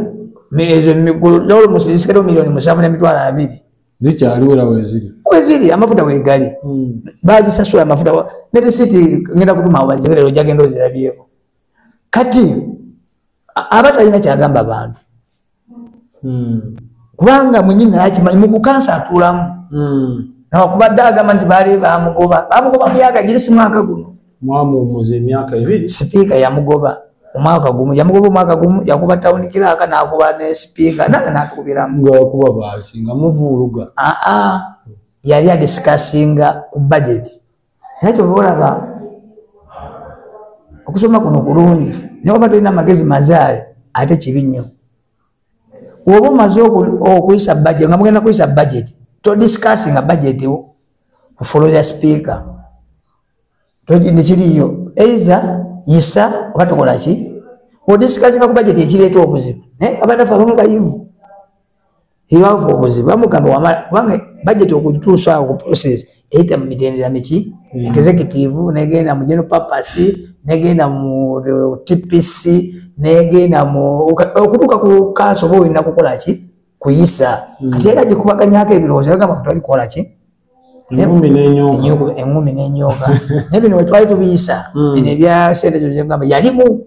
ezo emigulu nolumusirisikato miliyoni musanvu nemitwalo abiri zikyaliwera weziri weziri amafuta wegali hmm. bazisasula amafuta ne risiti ngenda kutuma awo baziwerero jagenda ozirabyeko kati aba talina kyagamba bantu hmm. kubanga mwenyini naye akimanyi mukukansa atulamu hmm. nawakubadde agamba nti baali bamugoba bamugoba myaka giri si mwaka guno mwamuwumuza emyaka ebiri sipiika yamugoba omwaka gumu yamugoba omwaka gumu yakuba tawuni kiraaka nakuba ne sipiika nange natukubiramu ngakuba baasi nga muvuuluga aa yali adisikasinga ku bajeti naye kyova olaba okusoma kuno kulungi naye oba tolina amagezi mazaale ate kibi nnyo woba omaze okuyisa budget nga mugenda kuyisa budget to discuss nga budget ku follow the speaker nekiriyo eiza yisa oba tokola ki odiscuss nga ku budget ekireeta obuzibu naye abanafe abamu bayivu ebavu obuzi bamugamba wamala kubanga budget okutuusa awo ku process eyita mu mitendera miki mm. executive negenda mu general purpose negenda mu uh, tpc negenda mu okutuuka ku kanso oba olina kukola ki kuyisa mm. kati era gikubaganyako ebirowoozo yagamba kutwali kukola ki engumi nenyoka naye bino wetwali tubiyisa mm. bino ebya sente zogamba yalimu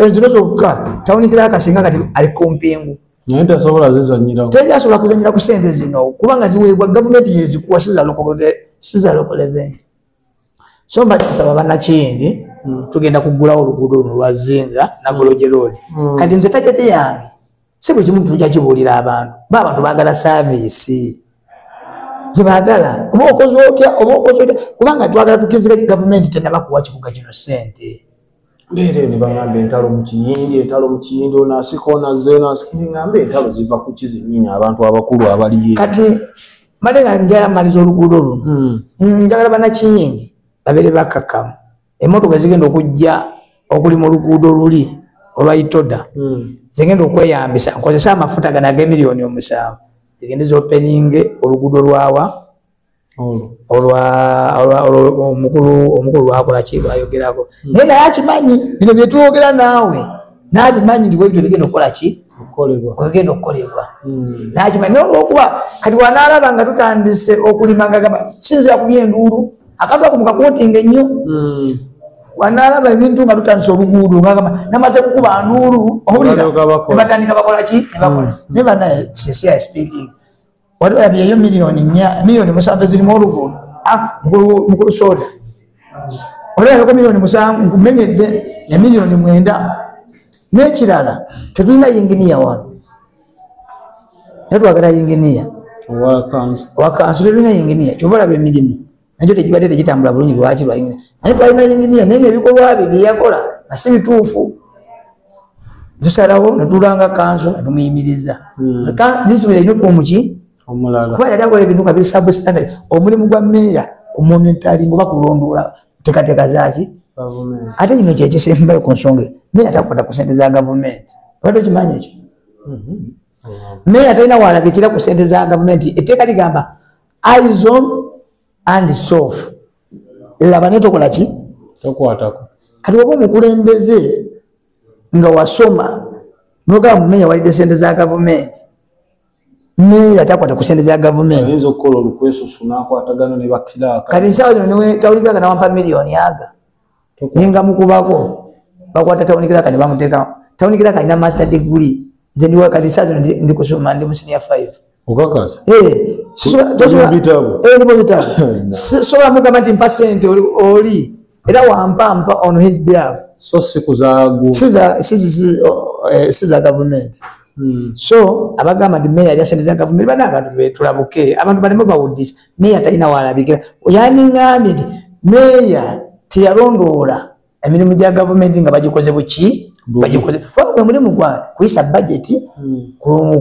enzino zokka tawunikira akasinga kati ali kumpingu naye tasobola zizanyirawo teri asobola kuzanyira ku sente zino kubanga ziweebwa gavumenti yezikuwa sizalokoleveni so mba nsaba banakiyindi hmm. tugenda kugulawo oluguudo luno lwazinga nagoloje loodi hmm. kati nze tagete yange si buli kimu tujja kibuulira abantu ba abantu baagala saaviisi gyebagala oba okoze otya oba okoze otya kubanga twagala tukizika gavumenti tenaba kuwa kibuga kino sente mbeera ene bagamba entalo mu kiyindi entalo mu kiyindi onasika onazze onasikiringamba entalo ziva ku kizinyini abantu abakulu abaliye kati mbale nga njala maliza oluguudo luno hmm. njagala banakiyindi babere bakakamu emotoka ezigenda okujja okuli mu luguudo luli olwaitoda hmm. zigenda okweyambisa nkozesa amafuta gano agemiliyoni omusanvu zigende zopeninge oluguudo lwawa omukulu lwakola ki lwayogerako hmm. naye naye akimanyi bino byetwogera naawe nabimanyi nti webyo bigenda okukola ki ogenda okukolebwa hmm. nakimanyi naye olwokuba kati wanaalaba nga tutandise okulima nga gamba sinzira kubyenduulu akantu ako mukakotinga ennyo hmm. wanalaba ebintu nga tutandisa oluguudo ngagamba namaze kukuba nduulu owulira nebatandika bakola ki nebakola hmm. naye banaye sincere speaking wali olabyeyo miliyoni nya miliyoni musanvu ezirimu oluguudo ah, mukulu soda wali olabeko miliyoni musanvu nkumenyedde ne miliyoni mwenda n'ekirala tetulina yinginiya wano naye twagala yinginiya wakansu tetulina yinginiya kyova olaba emirimu nakyo tekibadde tekitambula bulungi lwaki lwayinginiya naye twalina yinginiya naye nga ebikolwa bye byeyakola nga si bituufu tusalawo netulanga kanso netumuyimiriza hmm. disibuli erina otuomuki kuba yali akola ebintu nga bisabstandard omulimu gwa meeya ku momentaling oba kulondoola tekateka zaki ate kino kyekisembayo ku nsonga meya takwata ku sente za gavumenti obadde okimanyi ekyo mhm. meya talina walabikira ku sente za gavumenti etteeka ligamba izon and sof laba naye tokola ki kati waba omukulembeze nga wasoma nogamba mumeya walidde sente za gavumenti meeya takwata ku sente za gavumentikati nsawa zino niwe tawulikiraka nawampa miliyoni aga naye nga mukubako bakwata tawunikiraka ne bamuteekamu tawunikiraka alina master degree nze ndiwa kati nsawa zino ndi kusoma ndi musinia five okakasa eh, sobola eh, mugamba nti mpa sente oli era wampa mpa on his behalf so si kuzagu si za si si si oh, eh, si za government hmm. so abagamba ndi mayor yasente za government bana abantu betulabuke abantu balimo bawudisa mayor tayina walabikira yani ngambi ndi mayor tiyalondoola emirimu gya gavumenti nga bagikoze buki bagikoze wabwe mulimu gwa kuyisa bajeti hmm.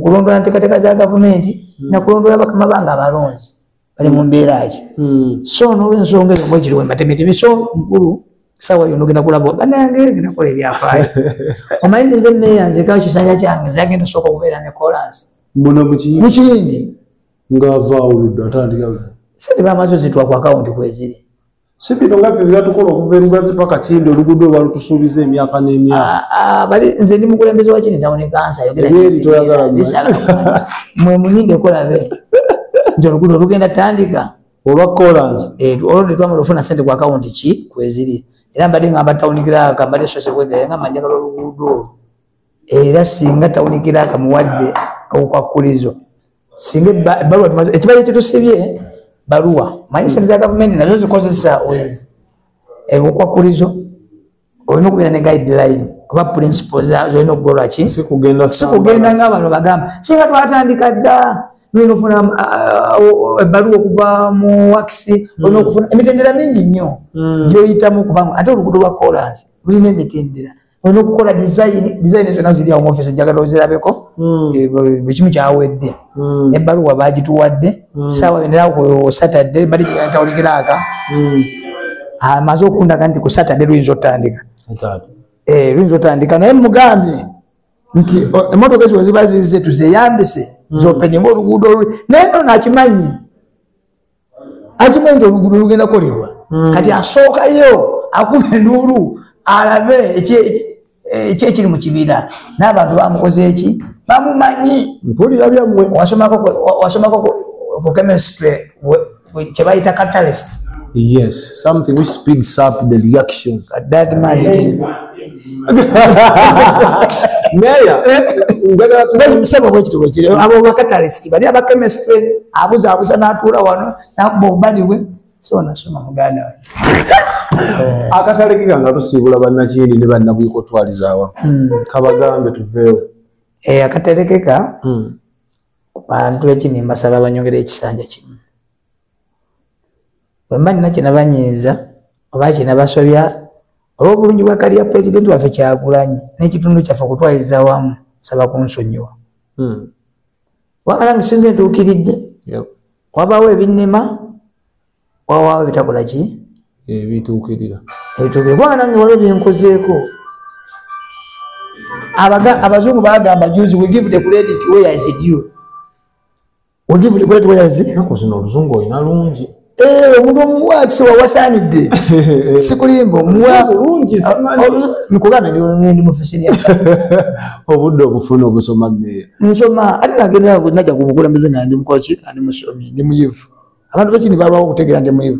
kulondoola nteekateeka za gavumenti hmm. nakulondoola bakama bange abalonzi bali mu mbeera ki hmm. so nolwensonga eyo mwekiri wematemeteme so mukulu sawa yo nogenda kulaba banange genda kola ebyafaayo omanyi ninze neyanzeka kisanja kyange zagenda sooka okubeera ne kolansi muno mukiyindi ngaavaawuludde atandika sente bamazo zitwa ku akawunti kweziri si bino nga byo byatukola okuva erugazi paka kindi oluguudo olwa lutusuubiza emyaka n'emyaka ah, ah, bali nze ndi mukulembeze wa kini tawuni kansa yogeramwe muninde kolabe nti oluguudo olugenda tandika olwa kolansi eh, olwo tetwamala ofuna sente ku akawunti ki kweziri era mbadde nga mbatawunikira ka mbadde sose kwegere nga manjagala oluguudo era singa tawunikira ka muwadde okwakulizo singa ebbaluwa ekibadde kitusibye baluwa manyi sente za gavumenti nazo zikozesa wezi ebukwakkulizo olina okubeera ne guideline oba principle zolina okugolwa ki sikugenda nga abantu bagamba singa twatandika dda nolina ofuna ebbaluwa uh, uh, okuva mu wakisi hmm. olina okufuna emitendera mingi nnyo hmm. gyoyitamu kubanga ate olugudo lwa kolansi lulina emitendera olina okukola dizayini dizayini zonna ziri awo mu ofisi njagala ozirabeko hmm. eh, buli kimu kyawedde hmm. ebbaluwa baagituwadde hmm. saawa yoneraku satadde bali kyawulikiraaka amaze okundaga nti ku satadde luyinza otandika eh, luyinza otandika naye mugambye nti emotoka ezo weziba zize tuzeyambise zopeninga oluguudo oluli naye no nakimanyi akimanyi nti oluguudo lugenda kolebwa hmm. kati asookayo akuba enduulu alabe ekyekiri mu kibiina n'abantu bamukoze eki bamumanyi mpulira byammwe wasomako ku chemistry kye bayita catalyst yes something which speeds up the reaction that man yes. meya njagala tumusaba bwekiti bwekiri abo bakatalisiti bali abakemestre abuzaabuza n'atuula wano nakuba obubadi bwe so nasoma muganda we eh. akatale ke kanga tusiibula bannakindi ne bannabwika otwalizaawa hmm. kabagambe tuveewo eh, akatale keka hmm. bantu ekini mbasaba banyongera ekisanja kimu wemba nina kyenabanyiiza oba kyenabasobya olwobulungi bwa kaliya pulezidenti waffe kyagulanyi n'ekitundu kyaffe okutwaliza wamu saba kunsonyiwa hmm. wagala ngisinza entuukiridde wabaawo ebinnema wawaawo ebitakola ki ebituukirira ebituukirira kubanga nange waliwo byenkozeeko abazungu bagamba juzi we give the credit where is due We'll give the great way as it. Nako zino luzungu ina lungi. Eh, omuntu omuwa kisoba wasanidde. Sikulimbo muwa lungi ah, simani. Oh, Nikugambe ndi ndi mufisini ya. Obudde obufuna obusoma me. Nsoma ati nagenda nako naja kubukula mbize nga ndi mkochi andi musomi ndi muyivu. Abantu bakini balwa okutegera ndi muyivu.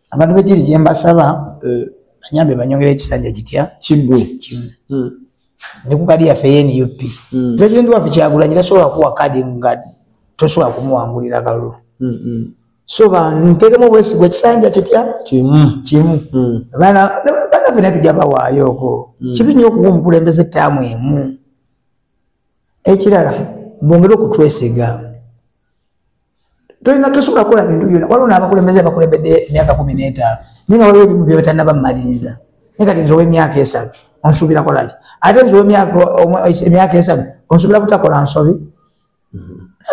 abantu bekiri kyembasaba eh. anyambe banyongera ekisanja kitya kigwe kimu hmm. ne ku kadi yaffe yenup hmm. president waffe kyagulanyi tasobola kuwa kadi nga tosobola kumuwangulira kalulu hmm, so bantekemu obwesigwa ekisanja kitya kimu banaffe naye tujja bawaayo oko kibi nyo okuwa omukulembeze ettaamu emu ekirala bongere okutwesiga tolina tosobola kukola bintu byona waliwo n'abakulembeze abakulembedde emyaka kumi n'etaano naye nga waliwo ebimu byebatalina bamumaliriza naye kati nze ow'emyaka esanu onsuubira kolaki ate nze ow'emyaka esanu onsuubira kutakola nsobi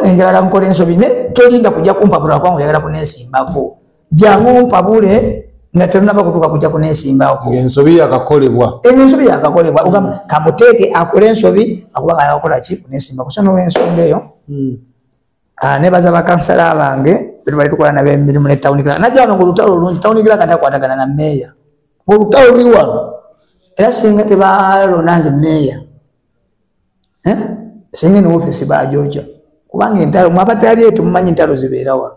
enjalala nkola ensobi naye tolinda kujja kumpabula kubanga oyagala kunesimbako jangu mpabule nga tenunaba kutuka kuja kunesimbawo ensobi yakakolebwa eno ensobi yakakolebwa ogamba hmm. kamuteeke akole ensobi akuba nga yakola ki kunesimba kusana olwensonga eyo hmm. ah, nebaza bakansala bange betubali tukola nabo emirimu ne tawuni kila najja wano ngaolutalo olungi tawuni kila kati akwatagana na meeya ngaolutalo luli wano era singa tebalona nze meeya eh? singa eno ofisi bajoja kubanga entalo mwabatali eyo temumanyi entalo zibeera wano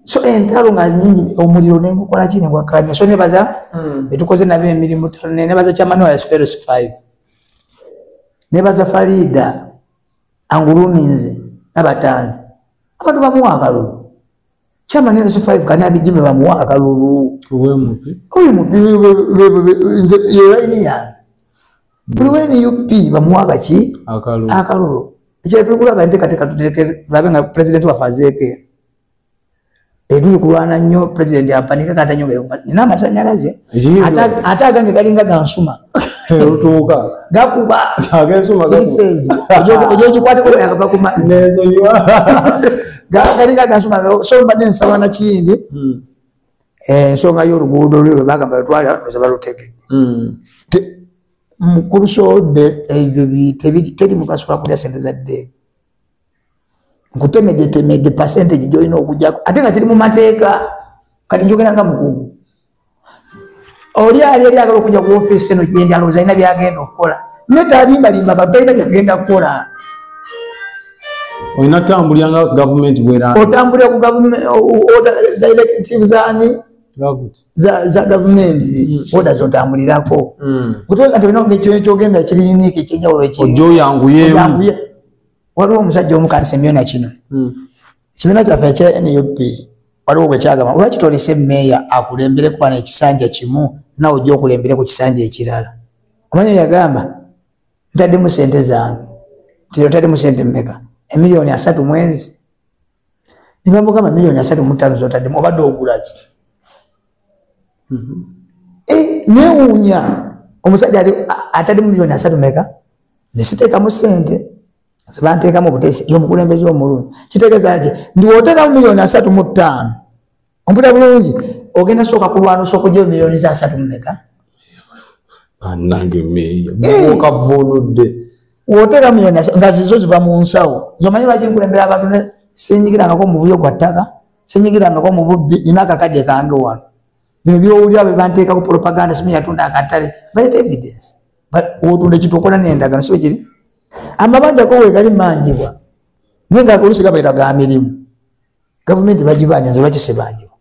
so entalo nga nyingi omuliro ne gukola kine gwa kanya so ne baza mm. etukoze nabe emirimu tano ne baza chama no as first five ne baza farida anguluminze abatanze abantu bamuwa akalulu chama ne as five kana bijime bamuwa akalulu owe mupi owe mupi nze yeye ni ya buli wa nup bamuwa kaki akalulu ekyali tuli kulaba enteekateeka tulabe nga pulezidenti waffe azeeke etuli kulwana nnyo pulezidenti ampanika kata nyongere nina amasanyalaze ate agange galinga gansuma lutuuka gakuba egyogikwatekuakakakuma galinga gansuma so mbadde nsaba nakiyindi hmm. ensonga y'oluguudo lwe lwebagamba lwetwali abanuza balutegedde hmm. mukulu soode ebyo teri mugaso lwakulya sente za ddeega nkutemedde temedde percentage gyolina okujako ate nga kiri mu mateeka kati njogera nga mukugu oli ali eri agala okuja ku ofiisi eno gyendi alowooza alina byagenda okukola ne talimbalimba abantu balina byagenda kukola olina tambulira nga gavumenti bwera otambulira ku directivesani za gavumenti hmm. oda zotambulirako hmm. kutoka nti olina ekintu ekyogenda kiri unique ekyenjawulo ekyoyanguye waliwo omusajja omukanisa emyona kino hmm. kibiina kyaffe ekya nup waliwo bwekyagamba olwaki tolese meeya akulembere kuba nekisanja kimu nawe ojja okulembere ku kisanja ekirala omanya yagamba ntaddemu sente zange nti otaddemu sente mumeka emiliyoni asatu mwezi ne bamugamba miliyoni asatu mu ttaano z'otaddemu obadde ogula ki mm-hmm. eh, newuunya omusajja atadde mu miliyoni asatu meka zisiteekamu ssente zebanteekamu obuteesi y'omukulembeze omulungi kitegeeza ki ndi woteekamu miliyoni asatu mu ttaano omputa bulungi ogenda sooka kulwanusa okugyayo miliyoni za asatu mumeka anange meeya okavunudde eh. woteeka miliyoni nga zizo ziva mu nsawo zomanyi lwaki nkulembera abantu ne sinyigirangako omuvuyo gwa ttaka sinyigirangako mu bubbi nina akakadde kange wano bino byowulira bwe banteekako propaganda simu yatunda akatale balet evidence wotunda ekintu okola nendagano sibe kiri amabanja ko wegali manjibwa naye nga olusi gabaira ga mirimu gavumenti bagibanja nze lwaki sibanjibwa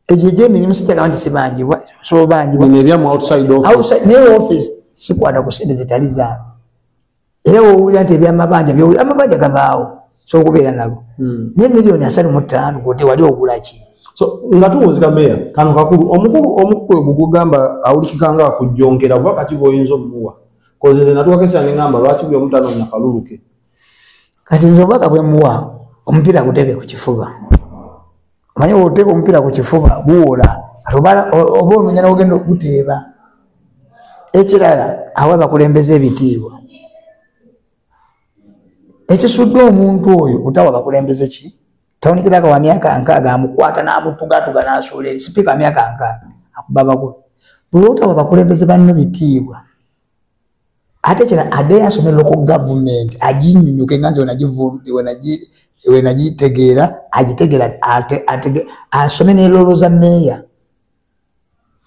egyo egyemirimu sitagamba nti sibanjibwa sobanjibwanaye office sikwata ku sente zitali zaabo era wowulira nti ebyamabanja byowulira amabanja gabaawo sokubeera nago hmm. naye miliyoni asatu mu ttaano gote wali ogulaki so nga tuwunzika meya kano kakulu omukulu omukulu gugugamba awulikika nga akujjongera kuba kati boyinza omuwa koze ze natuwakesa ne ngamba lwaki buli omutanonya kaluluke kati nze obubaka bwemuwa omupiira guteeke ku kifuba omanye oteeka omupiira ku kifuba guwola oba ononya nogenda okuguteeba ekirala awa bakulembeza ebitiibwa ekisudde omuntu oyo kutawa bakulembeze ki tawunikiraka wa myaka nkaaga amukwata n'amutugatuga n'asuula eri sipiika wa myaka nkaaga akubabagwe bwewootawa bakulembeze banno bitiibwa ate kira ade asome loko government ajinyunyuke nganze wenajitegeera ajitegera asome nelolo za meya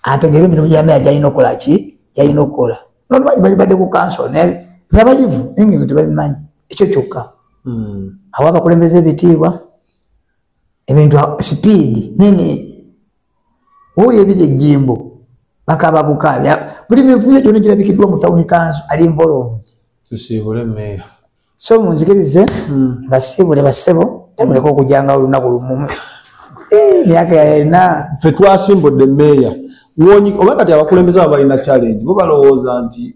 ategere emirimu gya meya gyalina okukola ki gyalina okukola nolwaki bali badde ku kanso nabayivu naye nga ebintu babimanyi ekyo kyokka hmm. awo abakulembeza ebitiibwa ebintu sipiidi nene oli ebiri ejjimbo bakaba bukaabi buli mivuyo gyona girabikiddwa mu tawuni kanso ali involved tusiibule meeya so munzikirize hmm. basiibule basebo temuleka okujanga olunaku lumumu eh, myaka yalina fe twasimbudde meeya oba kati abakulembeze abo balina challenge bo balowooza nti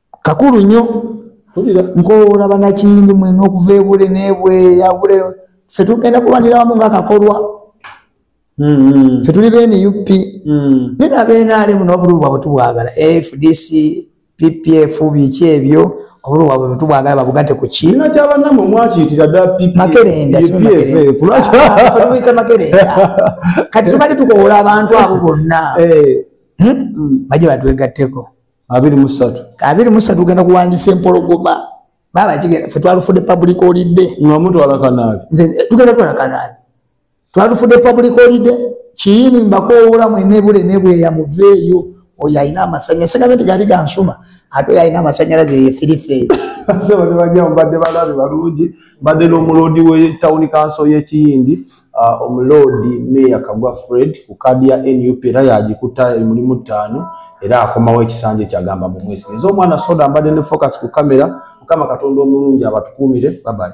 kakulu nnyo nkowoola banakiyindi mwena okuva ebule nebweyabule fe tugenda kulwanira wamu nga kakolwa mm-hmm. fe tuli bene up mm-hmm. naye nabenaalemu n'obululu bwabwe tubwagala fdc ppf biki ebyo obululu bwabwe bwetubwagala babugate ku ki makerendatubuyita makerenda kati tubadde tukowoola abantu abo bonna eh. hmm? mm. baje batwegatteko abiri mu ssatu abiri mu ssatu ogenda kuwandiisa empologoma baaba kigenda fe twalufudde public holiday nga mutwala kanaabi nze eh, tugenda twala kanaabi twalufudde public holiday kiyini mbakoowoola mwene bule ne bweya muveeyo oyo alina amasanyalaze sigambe nti gali gansuma ate oyo alina amasanyalaze ye firifeeri sebo ne bajja mubadde balabi balungi mbadde n'omuloodi w'etawuni kanso y'ekiyindi uh, omuloodi meeya kagwa fred ku kaadi ya nup era yagikuta emulimu ttaano era akomawo ekisanja ekyagamba mu mwesi eza omwana soda mbadde ne focus ku kamera mukama katonda omulungi abatukuumire babali